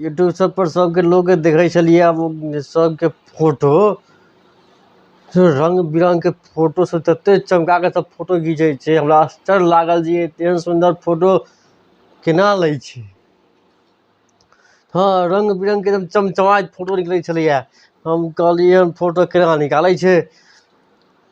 YouTube सब पर सबके लोकके देखै छलियै आब सबके फोटो रङ्ग बिरङ्गके फोटो सब तते चमकाके सब फोटो घीचै छै हमरा आश्चर्य लागल जे एतेहन सुन्दर फोटो केना लै छै हँ रङ्ग बिरङ्गके एकदम चमचमाइत फोटो निकलै छलैए हम कहलियै हन फोटो केना निकालै छै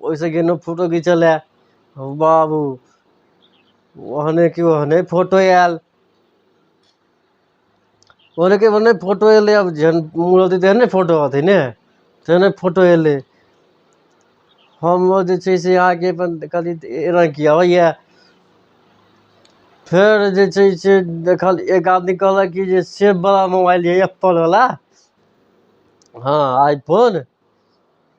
ओहिसँ गेलहुँ फोटो घीचय लेल हौ बाबू ओहनेके ओहने फोटो आयल ओहनेके ओहने फोटो अयलै आब जेहन मूड रहतै तेहन ने फोटो अयतै ने तेहने फोटो अयलै हमरो जे छै से अहाँके अपन कनि एना की अबैए फेर जे छै से देखल एक आदमी कहलक कि जे सेबवला मोबाइल यए एप्पलवला हँ आइ फोन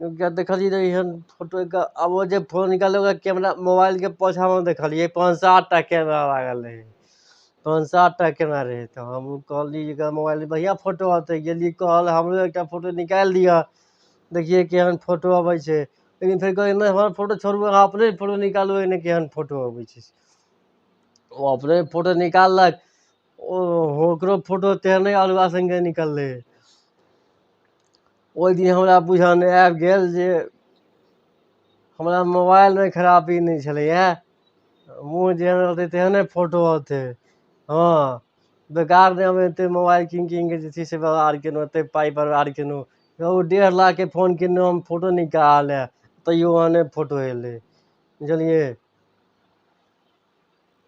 एकटा देखलियै रहए एहन फोटोके आब ओ जे फोटो निकाललहुँ रहए कैमरा मोबाइलके पोछामे देखलियै पाँच सात टा कैमरा लागल रहै पाँच सात टा कैमरा रहै तऽ हम कहलियै जे एकरा मोबाइलमे बढ़िआँ फोटो अयतै गेलियै कहय लेल हमरो एकटा फोटो निकालि दिअ देखियै केहन फोटो अबै छै लेकिन फेर कहलियै नहि हमर फोटो छोड़ू अहाँ अपने फोटो निकालू एहिमे केहन फोटो अबै छै ओ अपने फोटो निकाललक ओ ओकरो फोटो तोहर नहि अल्हुआ सनके निकललै ओहि दिन हमरा बुझाने आबि गेल जे हमरा मोबाइलमे खरापी नहि छलैए मुँह जेहन रहतै तेहने फोटो अयतै हँ बेकार नहि हम एतेक मोबाइल कीनि कीनि कऽ जे छै से बर्बाद कयलहुँ एतेक पाइ बर्बाद कयलहुँ यौ डेढ़ लाखके फोन किनलहुँ हम फोटो नीक कहाँ आयल हए तैयो ओहने फोटो अयलै बुझलियै